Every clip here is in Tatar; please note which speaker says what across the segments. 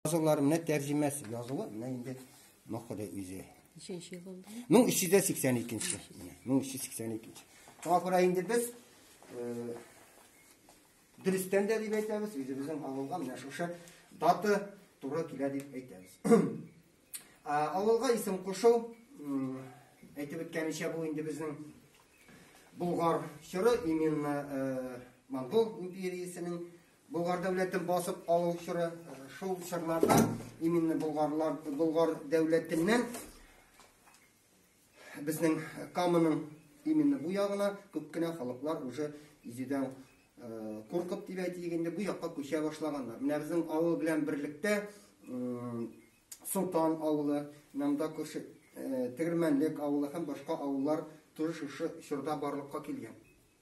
Speaker 1: Язулар менә тәрҗемәсе язылу менә инде мохыды үзе. Ничәнче ел ул? 1382-нче. 1382-нче. Шуңа күрә инде без э, дөрестән дә дип әйтәбез, үзебезнең авылга менә шушы даты туры килә дип әйтәбез. Авылга исем кушу әйтеп үткәнчә бу инде безнең Булгар чоры именно э, монгол империясенең Болгар дәүләтен басып алу чоры, шул чорларда именно болгарлар, болгар дәүләтеннән безнең Камының именно бу ягына күп кенә халыклар уже изүдән куркып дип әйтик инде бу якка күчә башлаганнар. Менә безнең авыл белән берлектә Солтан авылы, Намда күрше Тегермәнлек авылы һәм башка авыллар тоже шушы чорда барлыкка килгән.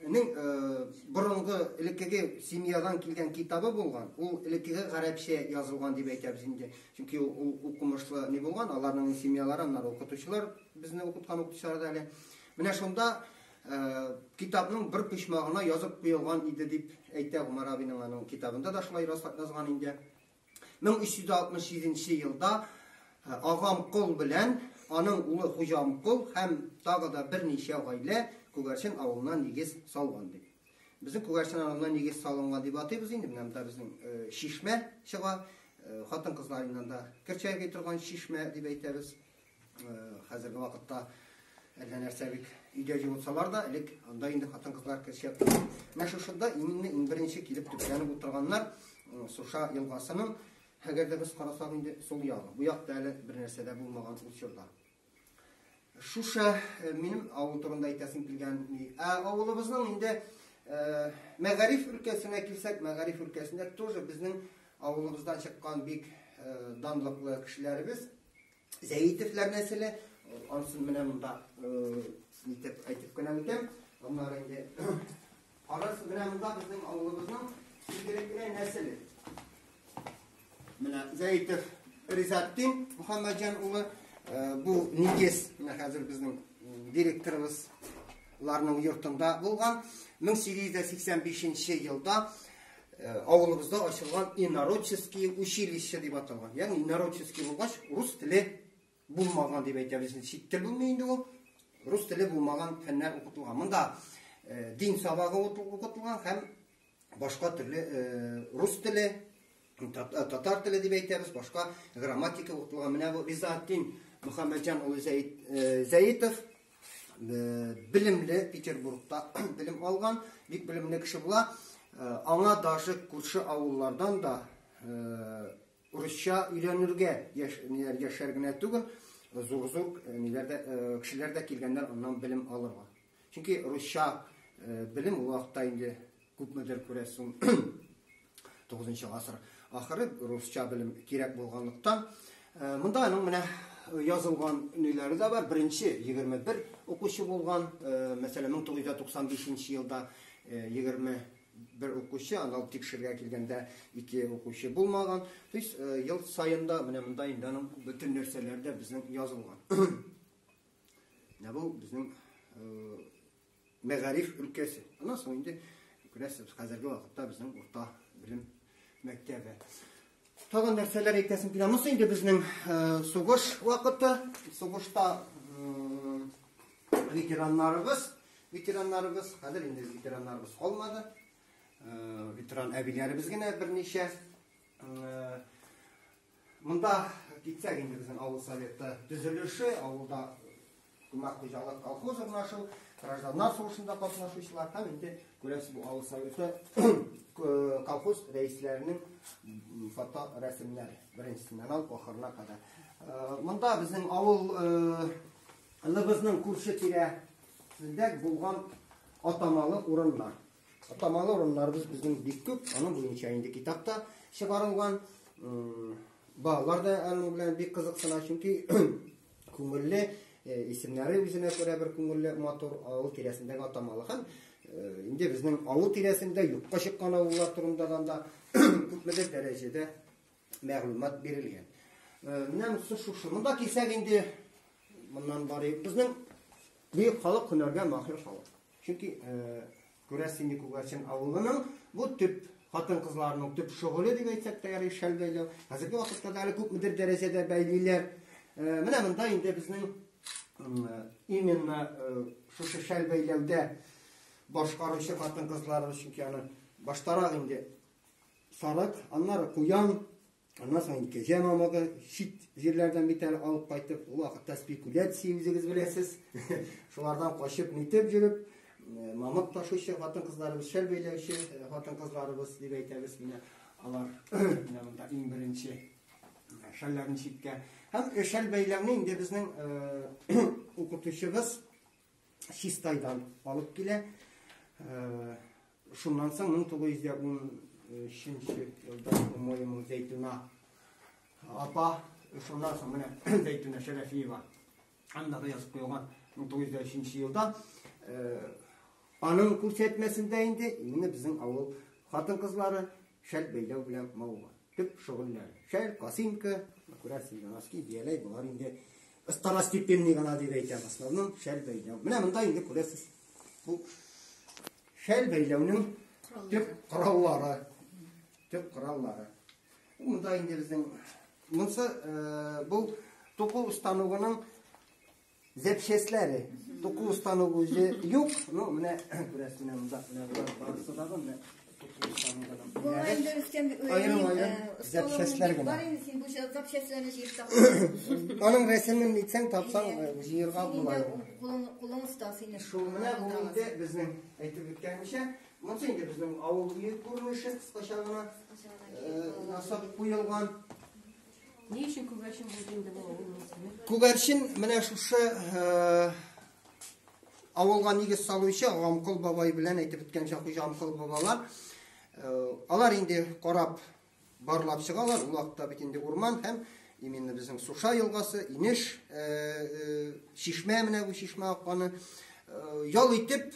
Speaker 1: Нең э, борынгы элеккеге семьядан килгән китабы булган, ул элеккеге гарәпчә язылган дип әйтәбез инде. Чөнки ул укымышлы не булган, аларның семьялары, аннары укытучылар безне укыткан укытучылар да әле. Менә шунда э, китапның бер почмагына язып куелган иде дип әйтә Гумар абиның аның китабында да шулай язган инде. 1367 нче елда Агамкол белән аның улы Хуҗамкол һәм тагы да берничә гаилә Күгәрчен авылына нигез салган дип. Безнең Күгәрчен авылына нигез салынган дип атыйбыз инде, менә монда безнең чишмә чыга, хатын-кызларыннан да кер чайкый торган чишмә дип әйтәбез. Хәзерге вакытта әллә нәрсә бит өйдә җылытсалар да, элек анда инде хатын-кызлар кеше Менә шушында именно иң беренче килеп төпләнеп утырганнар Суша елгасының, әгәр дә без карасак инде сул ягы. Бу якта әле бер нәрсә дә булмаган ул чорда. Шуша э, минем авыл турында әйтәсем килгән. Ә авылыбызның инде э, мәгариф өлкәсенә килсәк, мәгариф өлкәсендә тоже безнең авылыбыздан чыккан бик э, данлыклы кешеләребез Зәйтевләр нәселе, ансын менә монда итеп әйтеп кенә үтәм. Аннары инде карас менә монда безнең авылыбызның игелекле нәселе. Менә Зәйтев Ризаттин Мөхәммәдҗан улы бу нигез менә хәзер безнең директорыбыз ларның йортында булган 1885 елда Э, авылыбызда ачылган инородческие училище дип аталган. Ягъни инородческий булгач, рус теле булмаган дип әйтәбез. Чит тел булмый инде ул. Рус теле булмаган фәннәр укытылган. Монда э, дин сабагы укытылган һәм башка төрле э, рус теле, татар теле дип әйтәбез, башка грамматика укытылган. Менә бу Ризатдин Мөхәммәдҗан улы Зәйтов Белемле, Петербургта белем алган, бик белемле кеше була. Аңа даже күрше авыллардан да урысча өйрәнергә яшәр генә түгел, зур-зур кешеләр дә килгәннәр аннан белем алырга. Чөнки русча белем ул вакытта инде Күпмедер күрәсең, тугызынчы гасыр ахыры русча белем кирәк булганлыктан, монда аның менә язылган ниләре дә бар. Беренче 21 укучы булган, мәсәлән, 1995 елда 21 укучы, анал тикшергә килгәндә ике укучы булмаган. То есть ел саенда менә монда инде аның бөтен нәрсәләре дә безнең язылган. Менә бу безнең мәгариф өлкәсе. Аннан соң инде күрәсез, хәзерге вакытта безнең урта белем мәктәбе. Тагын нәрсәләр әйтәсем килә? Монысы инде безнең сугыш вакыты, сугышта ветераннарыбыз, ветераннарыбыз, хәзер инде ветераннарыбыз калмады. Ветеран әбиләребез генә берничә Монда китсәк инде безнең авыл советы төзелеше, авылда күмәк хуҗалык колхоз урнашу, гражданнар сугышында катнашучылар һәм инде күрәсез бу авыл советы колхоз рәисләренең фото рәсемнәре беренчесеннән алып ахырына кадәр. Э, монда безнең авыл э, лыбызның күрше тирә булган атамалы урыннар. Атамалы урыннарыбыз безнең бик күп, аның буенча инде китапта чыгарылган. Балалар да аның белән бик кызыксына, чөнки күңелле, э, исемнәре үзенә күрә бер күңелле, матур авыл тирәсендәге атамалы һәм э, инде безнең авыл тирәсендә юкка чыккан авыллар турында да күпмедер дәрәҗәдә мәгълүмат бирелгән. Менә монысы шушыны да кисәк инде моннан барыйк. Безнең бөек халык һөнәргә махир халык. Чөнки күрәсең инде Күгәрчен авылының бу төп хатын-кызларның төп шөгыле дип әйтсәк тә ярый шәл бәйләү. Хәзерге вакытта да әле күпмедер дәрәҗәдә бәйлиләр. Менә монда инде безнең именно шушы шәл бәйләүдә башкаручы хатын-кызларыбыз чөнки аны баштарак инде Сарык, аннары куян, аннан соң кәҗә мамыгы, чит җирләрдән бит әле алып кайтып, ул вакытта спекуляция үзегез беләсез. Шулардан качып, нитеп йөреп, э, мамык ташучы хатын-кызларыбыз, шәл бәйләүче э, хатын-кызларыбыз дип әйтәбез менә алар. Менә монда иң беренче э, шәлләрен читкә. Һәм шәл бәйләүне инде безнең укытучыбыз Чистайдан алып килә. Шуннан соң 1913 елда, по-моему, Зәйтүнә апа, шуннан соң менә Зәйтүнә Шәрәфиева андагы язып куелган 1903 елда аның күрсәтмәсендә инде именно безнең авыл хатын-кызлары шәл бәйләү белән мавыга. Төп шөгыльләре. Шәл, косинка, күрәсең, носки, бияләй, болар инде Второстепенный гына дип әйтәм основном шәл бәйләү. Менә монда инде күрәсез. Бу шәл бәйләүнең төп кораллары. Төп кораллары. Монда инде безнең монсы э, бу туку установының запчастләре. Туку установы юк, но менә күрәсез, менә монда менә барысы да менә
Speaker 2: Аның рәсемен
Speaker 1: нитсәң тапсаң җыерга була. Кулың оста
Speaker 2: сине. Шул менә бу инде
Speaker 1: безнең әйтеп үткәнчә, монысы инде безнең авыл бөек күренеше кыскача гына ясап куелган.
Speaker 3: Ни өчен күгәрчен булды инде бу? Күгәрчен менә
Speaker 1: шушы Авылга нигез салучы Амкол бабай белән әйтеп үткәнчә хуҗа Амкол бабалар э, алар инде карап барлап чыгалар. Ул вакытта бит инде урман һәм именно безнең Суша елгасы, Инеш, э, э, Шишмә менә бу Шишмә акканы ял итеп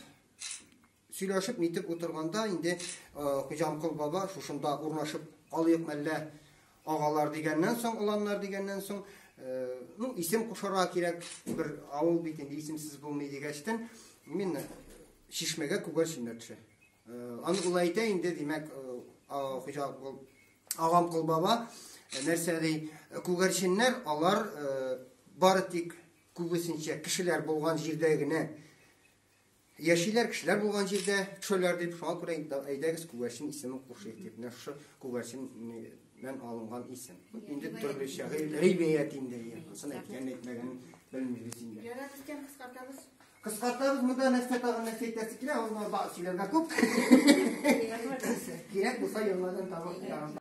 Speaker 1: Сөйләшеп-нитеп утырганда инде Хуҗанкол баба, шушында урнашып калыйк мәллә, агалар дигәннән соң, оланнар дигәннән соң, ну, исем кушарга кирәк, бер авыл бит инде, исемсез булмый, дигәчтен, мин чишмәгә күгәрчен чөймә төшә. Аны ул әйтә инде, димәк, Хуҗанкол, Агамкол баба, нәрсә ди, күгәрченнәр, алар бары тик күбесенчә кешеләр булган җирдә генә Яшиләр кешеләр булган җирдә төшәләр дип, шуңа күрә инде әйдәгез Күгәрчен исеме кушыйк дип, менә шушы Күгәрчен нән алынган исем. Инде төрле шагыйрь ривәят инде, ансын әйткән әйтмәгән белмибез инде. Ярар икән, кыскартабыз.
Speaker 2: Кыскартабыз,
Speaker 1: монда нәрсә тагын нәрсә әйтәсе килә, ул монда сөйләргә күп. Кирәк булса, елмадан табып